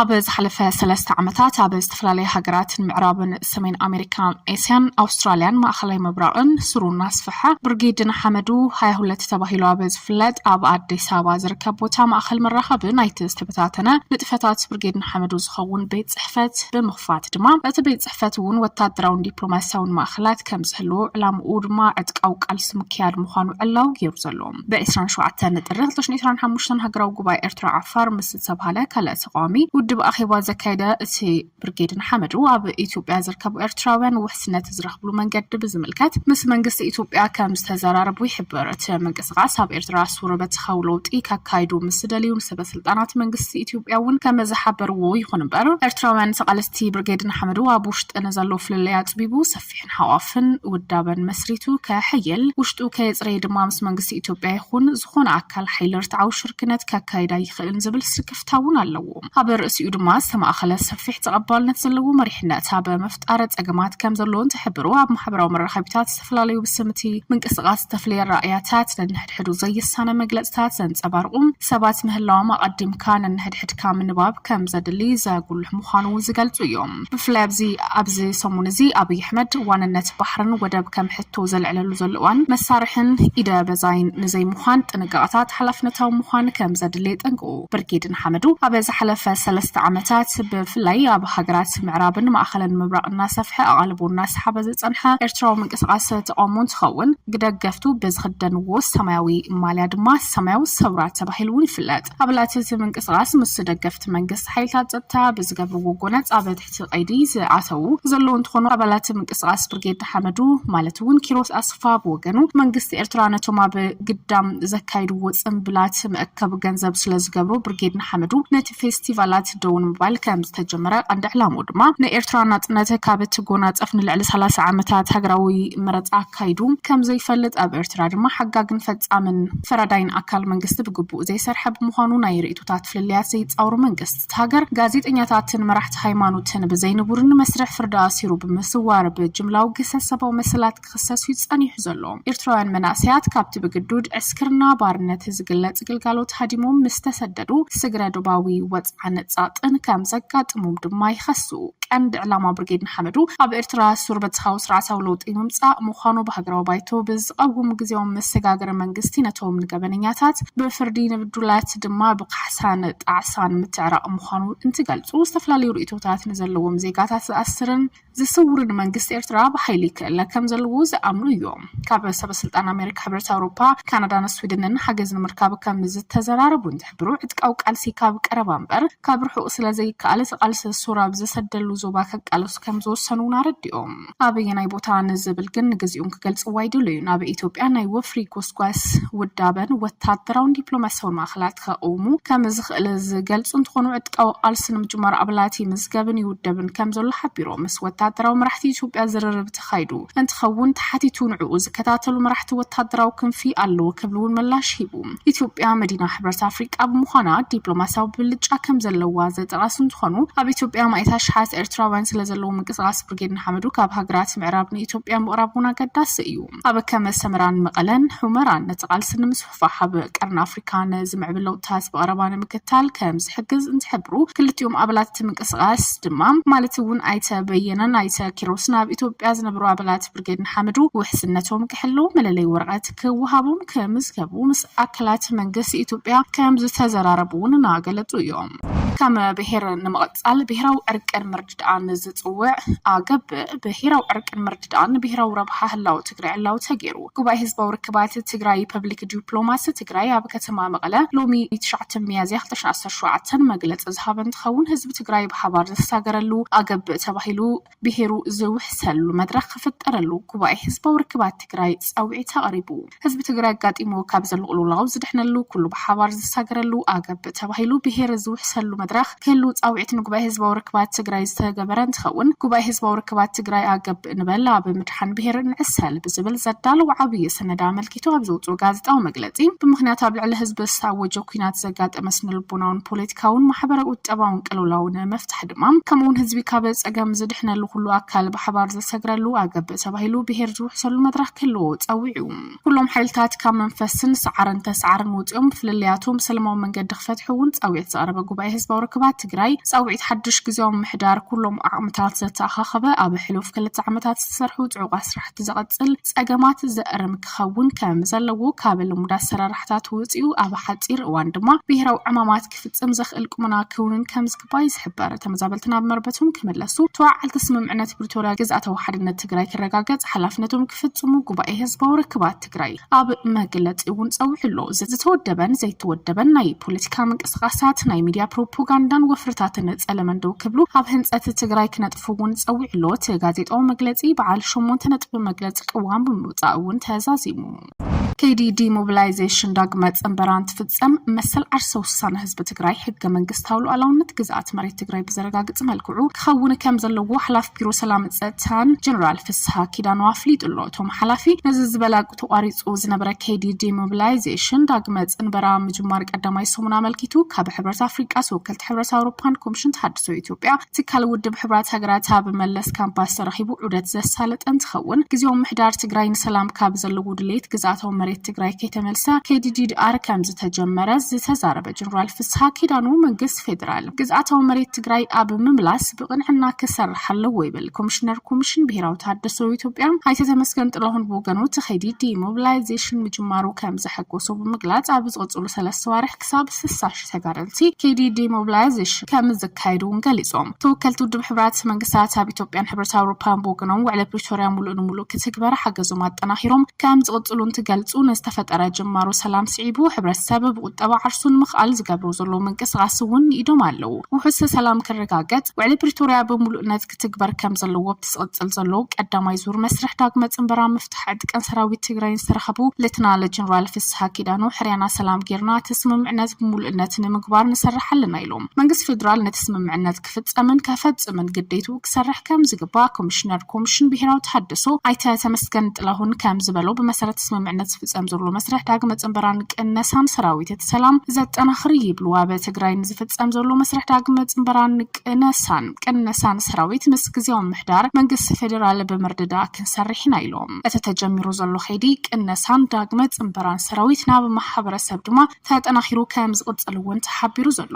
ኣብ ዝሓለፈ ሰለስተ ዓመታት ኣብ ዝተፈላለዩ ሃገራት ምዕራብን ሰሜን ኣሜሪካን ኤስያን ኣውስትራልያን ማእኸላይ ምብራቕን ስሩ እናስፍሐ ብርጌድ ንሓመዱ ሃያ ሁለት ተባሂሉ ኣብ ዝፍለጥ ኣብ ኣዲስ ኣበባ ዝርከብ ቦታ ማእኸል መራኸቢ ናይቲ ዝተበታተነ ንጥፈታት ብርጌድ ንሓመዱ ዝኸውን ቤት ፅሕፈት ብምኽፋት ድማ እቲ ቤት ፅሕፈት እውን ወታደራውን ዲፕሎማሲያውን ማእኸላት ከም ዝህልዎ ዕላምኡ ድማ ዕጥቃዊ ቃልሲ ምክያድ ምዃኑ ዕላዊ ገይሩ ዘሎ ብ27 ጥሪ 2025 ሃገራዊ ጉባኤ ኤርትራ ዓፋር ምስ ዝተባሃለ ካልእ ተቃዋሚ ውድብ ኣኼባ ዘካየደ እቲ ብርጌድ ንሓመዱ ኣብ ኢትዮጵያ ዝርከቡ ኤርትራውያን ውሕስነት ዝረኽብሉ መንገዲ ብዝምልከት ምስ መንግስቲ ኢትዮጵያ ከም ዝተዘራረቡ ይሕብር። እቲ ምንቅስቓስ ኣብ ኤርትራ ሱር በተኻዊ ለውጢ ከካይዱ ምስ ዝደልዩ ሰበ ስልጣናት መንግስቲ ኢትዮጵያ እውን ከም ዝሓበርዎ ይኹን እምበር ኤርትራውያን ተቓለስቲ ብርጌድ ንሓመዱ ኣብ ውሽጢ ንዘሎ ፍልልይ ኣጽቢቡ ሰፊሕን ሓቋፍን ውዳበን መስሪቱ ከሕይል ውሽጡ ከየጽረየ ድማ ምስ መንግስቲ ኢትዮጵያ ይኹን ዝኾነ ኣካል ሓይሊ ርትዓዊ ሽርክነት ከካይድ ኣይኽእልን ዝብል ስክፍታ እውን ኣለዎ። ኣብ ርእሲኡ ድማ ዝተማእኸለ ሰፊሕ ተቐባልነት ዘለዎ መሪሕነት ኣብ ምፍጣር ፀገማት ከም ዘለዎን ዝሕብሩ ኣብ ማሕበራዊ መራኸቢታት ዝተፈላለዩ ብስም እቲ ምንቅስቓስ ዝተፍለየ ኣረኣእያታት ነንሕድሕዱ ዘይሳነ መግለፅታት ዘንፀባርቑ ሰባት ምህላዎም ኣቐዲምካ ነንሕድሕድካ ምንባብ ከም ዘድሊ ዘጉልሕ ምዃኑ እውን ዝገልፁ እዮም ብፍላይ ኣብዚ ኣብዚ ሰሙን እዚ ኣብይ ኣሕመድ ዋንነት ባሕርን ወደብ ከም ሕቶ ዘልዕለሉ ዘሎ እዋን መሳርሕን ኢደ በዛይን ንዘይምዃን ጥንቃቐታት ሓላፍነታዊ ምዃን ከም ዘድሊ የጠንቅቑ። ብርጌድ ንሓመዱ ኣብ ዝሓለፈ ሰለስተ ዓመታት ብፍላይ ኣብ ሃገራት ምዕራብን ማእኸልን ምብራቕ እናሰፍሐ ኣቓልቦ እናሰሓበ ዝፀንሐ ኤርትራዊ ምንቅስቓስ ተቓውሞ እንትኸውን ግደገፍቱ ብዝኽደንዎ ሰማያዊ ማልያ ድማ ሰማያዊ ሰውራ ተባሂሉ እውን ይፍለጥ። ኣባላት እቲ ምንቅስቓስ ምስ ደገፍቲ መንግስቲ ሓይልታት ፀጥታ ብዝገብርዎ ጎነፅ ኣብ እቲ ቀይዲ ዝኣተዉ ዘለዉ እንትኾኑ፣ ኣባላት ምንቅስቓስ ብርጌድ ንሓመዱ ማለት እውን ኪሮስ ኣስፋ ብወገኑ፣ መንግስቲ ኤርትራ ነቶም ኣብ ግዳም ዘካይድዎ ጽንብላት መእከቢ ገንዘብ ስለዝገብሮ ብርጌድ ንሓመዱ ነቲ ፌስቲቫላት ደው ንምባል ከምዝተጀመረ፣ ቀንዲ ዕላምኡ ድማ ንኤርትራ ናጽነት ካብ እትጎናጸፍ ንልዕሊ ሰላሳ ዓመታት ሃገራዊ መረጻ ኣካይዱ ከምዘይፈልጥ ኣብ ኤርትራ ድማ ሓጋግን ፈጻምን ፈራዳይን ኣካል መንግስቲ ብግቡእ ዘይሰርሐ ብምዃኑ ናይ ርእይቶታት ፍልልያት ዘይጻወሩ መንግስት ኣብታ ሃገር ጋዜጠኛታትን መራሕቲ ሃይማኖትን ብዘይንቡርን መስርሕ ፍርዲ ኣሲሩ ብምስዋር ብጅምላዊ ግህሰት ሰብኣዊ መሰላት ክኽሰስ እዩ ጸኒሑ ዘሎ። ኤርትራውያን መናእሰያት ካብቲ ብግዱድ ዕስክርና ባርነት ዝግለጽ ግልጋሎት ሃዲሞም ምስ ተሰደዱ ስግረ ዶባዊ ወጽዓን ጸቕጥን ከም ዘጋጥሞም ድማ ይኸሱ። ቀንዲ ዕላማ ብርጌድ ንሓመዱ ኣብ ኤርትራ ሱር በተኻዊ ስርዓታዊ ለውጢ ምምጻእ ምዃኑ ብሃገራዊ ባይቶ ብዝቐውም ግዝያዊ መሰጋገሪ መንግስቲ ነቶም ንገበነኛታት ብፍርዲ ንብዱላት ድማ ካሕሳን ጣዕሳን ምትዕራቕ ምዃኑ እንትገልጹ፣ ዝተፈላለዩ ርእይቶታት ንዘለዎም ዜጋታት ዝኣስርን ዝስውርን መንግስቲ ኤርትራ ብሓይሊ ክእለ ከም ዘለዎ ዝኣምኑ እዮም። ካብ ሰበስልጣን ኣሜሪካ፣ ሕብረት ኣውሮፓ፣ ካናዳን ስዊድንን ሓገዝ ንምርካብ ከም ዝተዘራረቡ እንትሕብሩ፣ ዕጥቃዊ ቃልሲ ካብ ቀረባ እምበር ካብ ርሑቕ ስለዘይከኣል እቲ ቃልሲ ሱር ኣብ ዝሰደሉ ዞባ ከቃለሱ ከም ዝወሰኑ'ውን ኣረዲኦም። ኣበየናይ ቦታ ንዝብል ግን ንግዚኡ ክገልጽዎ ኣይደለዩን። ኣብ ኢትዮጵያ ናይ ወፍሪ ጎስጓስ ውዳበን ወታደራውን ዲፕሎማስያውን ማእኸላት ከቕውሙ ከምዝኽእል ዝገልጹ እንትኾኑ ዕጥቃዊ ቃልሲ ንምጅማር ኣባላት ይምዝገብን ይውደብን ከምዘሎ ሓቢሮም። ምስ ወታደራዊ መራሕቲ ኢትዮጵያ ዝርርብ ተኻይዱ እንትኸውን ተሓቲቱ ንዕኡ ዝከታተሉ መራሕቲ ወታደራዊ ክንፊ ኣለዉ ክብል'ውን ምላሽ ሂቡ። ኢትዮጵያ መዲና ሕብረት ኣፍሪቃ ብምዃና ዲፕሎማስያዊ ብልጫ ከም ዘለዋ ዘጠቐሱ እንትኾኑ ኣብ ኢትዮጵያ ማእት ኣሽሓት ኤርትራውያን ስለ ዘለዎ ምንቅስቓስ ብርጌድ ንሓመዱ ካብ ሃገራት ምዕራብ ንኢትዮጵያ ምቕራብ እውን ኣገዳሲ እዩ። ኣብ ከመ ሰመራን መቐለን ሑመራን ነቲ ቃልሲ ንምስፍፋሕ ኣብ ቀርኒ ኣፍሪካ ንዝምዕብል ለውጥታት ብቐረባ ንምክታል ከም ዝሕግዝ እንትሕብሩ ክልቲኦም ኣባላት እቲ ምንቅስቓስ ድማ ማለት እውን ኣይተ በየነን ኣይተ ኪሮስን ኣብ ኢትዮጵያ ዝነበሩ ኣባላት ብርጌድ ንሓመዱ ውሕስነቶም ክሕልው መለለይ ወረቐት ክወሃቦም ክምዝገቡ ምስ ኣካላት መንግስቲ ኢትዮጵያ ከምዝተዘራረቡ እውን እናገለፁ እዮም። ከም ብሄር ንምቕፃል ብሄራዊ ዕርቅን ምርድዳእን ዝፅውዕ ኣገብ ብሄራዊ ዕርቅን ምርድዳእን ብሄራዊ ረብሓ ህላው ትግራይ ዕላዊ ተገይሩ ጉባኤ ህዝባዊ ርክባት ትግራይ ፐብሊክ ዲፕሎማሲ ትግራይ ኣብ ከተማ መቐለ ሎሚ 9 ሚያዝያ 2017 መግለፂ ዝሃበ እንትኸውን ህዝቢ ትግራይ ብሓባር ዝተሳገረሉ ኣገብ ተባሂሉ ብሄሩ ዝውሕሰሉ መድረኽ ክፍጠረሉ ጉባኤ ህዝባዊ ርክባት ትግራይ ፃውዒት ኣቕሪቡ። ህዝቢ ትግራይ ኣጋጢምዎ ካብ ዘሎ ቅልውላው ዝድሕነሉ፣ ኩሉ ብሓባር ዝሳገረሉ ኣገብ ተባሂሉ ብሄር ዝውሕሰሉ መድረኽ ክህሉ ፃውዒት ንጉባኤ ህዝባዊ ርክባት ትግራይ ዝተገበረ እንትኸውን ጉባኤ ህዝባዊ ርክባት ትግራይ ኣገብ ንበል ኣብ ምድሓን ብሄር ንዕሰል ብዝብል ዘዳለዎ ዓብዪ ሰነድ ኣመልኪቱ ኣብ ዘውፅኦ ጋዜጣዊ መግለፂ ብምኽንያት ኣብ ልዕሊ ህዝቢ ዝተኣወጀ ኲናት ዘጋጠመ ስነልቦናውን ፖለቲካውን ማሕበረ ቁጠባውን ቅልውላው ንምፍታሕ ድማ ከምኡውን ህዝቢ ካብ ፀገም ዝድሕነሉ ኩሉ ኣካል ብሓባር ዘሰግረሉ ኣገብ ተባሂሉ ብሄር ዝውሕሰሉ መድረኽ ክህልዎ ፀዊዑ ኩሎም ሓይልታት ካብ መንፈስን ሰዓርን ተሰዓርን ውፅኦም ብፍልልያቶም ብሰለማዊ መንገዲ ክፈትሑ እውን ፃውዒት ዘቕረበ ጉባኤ ህዝባዊ ርክባት ትግራይ ፃውዒት ሓድሽ ግዜያዊ ምሕዳር ኩሎም ዓቕምታት ዘተኣኻኸበ ኣብ ሕሉፍ ክልተ ዓመታት ዝተሰርሑ ፅዑቕ ስራሕቲ ዘቐፅል ፀገማት ዘእርም ክኸውን ከም ዘለዎ ካብ ልሙድ ኣሰራርሓታት ውፅኡ ኣብ ሓፂር እዋን ድማ ብሄራዊ ዕማማት ክፍፀም ዘኽእል ቁመና ክውንን ከምዝግባእ ይዝሕበር። ተመዛበልቲ ናብ መርበቶም ክምለሱ፣ ተወዓዓልቲ ስምምዕነት ፕሪቶርያ ግዝኣታዊ ሓድነት ትግራይ ክረጋገፅ ሓላፍነቶም ክፍፅሙ ጉባኤ ህዝባዊ ርክባት ትግራይ ኣብ መግለፂኡ እውን ፀዊዑ ኣሎ። ዝተወደበን ዘይተወደበን ናይ ፖለቲካ ምንቅስቓሳት፣ ናይ ሚድያ ፕሮፖጋንዳን ወፍርታትን ፀለመን ደው ክብሉ ኣብ ህንፀት ትግራይ ክነጥፉ እውን ፀዊዑ ኣሎ። እቲ ጋዜጣዊ መግለፂ በዓል ሸሞንተ ነጥቢ መግለፂ ቅዋም ብምውፃእ እውን ተዛዚሙ። ከይዲ ዲሞቢላይዜሽን ዳግመ ፅንበራ እንትፍፀም መሰል ዓርሰ ውሳነ ህዝቢ ትግራይ ሕገ መንግስታዊ ሉኣላውነት ግዝኣት መሬት ትግራይ ብዘረጋግፅ መልክዑ ክኸውን ከም ዘለዎ ሓላፊ ቢሮ ሰላምን ፀጥታን ጀነራል ፍስሃ ኪዳኑ ኣፍሊጡ ኣሎ። እቶም ሓላፊ ነዚ ዝበላ ተቋሪፁ ዝነበረ ከይዲ ዲሞቢላይዜሽን ዳግመ ፅንበራ ምጅማር ቀዳማይ ሰሙን ኣመልኪቱ ካብ ሕብረት ኣፍሪቃ፣ ተወከልቲ ሕብረት ኣውሮፓን ኮሚሽን ተሃድሶ ኢትዮጵያ ትካል ውድብ ሕብራት ሃገራት ኣብ መለስ ካምፓስ ተረኺቡ ዑደት ዘሳለጠ እንትኸውን ግዜያዊ ምሕዳር ትግራይ ንሰላም ካብ ዘለዎ ድሌት ግዝኣታዊ መሬት ትግራይ ከይተመልሰ ከይዲ ዲዲኣር ከምዝተጀመረ ዝተዛረበ ጀነራል ፍስሃ ኪዳኑ መንግስቲ ፌዴራል ግዝኣታዊ መሬት ትግራይ ኣብ ምምላስ ብቕንዕና ክሰርሕ ኣለዎ ይብል። ኮሚሽነር ኮሚሽን ብሄራዊ ተሃድሶ ኢትዮጵያ ኣይተ ተመስገን ጥላሁን ብወገኑ እቲ ከይዲ ዲሞቢላይዜሽን ምጅማሩ ከምዘሐጎሶ ብምግላፅ ኣብ ዝቕፅሉ ሰለስተ ኣዋርሕ ክሳብ ስሳ ሽሕ ተጋደልቲ ከይዲ ዲሞብላያዜሽን ከም ዝካየድ እውን ገሊፆም። ተወከልቲ ውድብ ሕቡራት መንግስታት ኣብ ኢትዮጵያን ሕብረት ኣውሮፓን ብወገኖም ውዕለ ፕሪቶሪያ ሙሉእ ንሙሉእ ክትግበር ሓገዞም ኣጠናኺሮም ከም ዝቕፅሉ እንትገልፁ ንዝተፈጠረ ጅማሮ ሰላም ስዒቡ ሕብረተሰብ ብቑጠባ ዓርሱ ንምኽኣል ዝገብሮ ዘሎ ምንቅስቓስ እውን ንኢዶም ኣለው። ውሑስ ሰላም ክረጋገፅ ውዕሊ ፕሪቶሪያ ብሙሉእነት ክትግበር ከም ዘለዎ ኣብቲ ዝቕፅል ዘሎ ቀዳማይ ዙር መስርሕ ዳግመ ፅንበራ ምፍታሕ ዕጥቅን ሰራዊት ትግራይን ዝተረኸቡ ሌተናለ ጀነራል ፍስሃ ኪዳኑ ሕርያና ሰላም ጌርና እቲ ስምምዕነት ብምሉእነት ንምግባር ንሰርሕ ኣለና ኢሎም። መንግስቲ ፌዴራል ነቲ ስምምዕነት ክፍፀምን ከፈፅምን ግዴትኡ ክሰርሕ ከም ዝግባእ ኮሚሽነር ኮሚሽን ብሄራዊ ተሃድሶ ኣይተ ተመስገን ጥላሁን ከም ዝበሎ ብመሰረት እቲ ስምምዕነት ዝፍፀም ዘሎ መስርሕ ዳግመ ፅንበራን ቅነሳን ሰራዊት እቲ ሰላም ዘጠናኽር እዩ ይብሉ። ኣብ ትግራይ ንዝፍፀም ዘሎ መስርሕ ዳግመ ፅንበራን ቅነሳን ቅነሳ ንሰራዊት ምስ ግዝያዊ ምምሕዳር መንግስቲ ፌደራል ብምርድዳእ ክንሰርሕ ኢና ኢሎም። እቲ ተጀሚሩ ዘሎ ከይዲ ቅነሳን ዳግመ ፅምበራን ሰራዊት ናብ ማሕበረሰብ ድማ ተጠናኺሩ ከምዝቕፅል እውን ተሓቢሩ ዘሎ።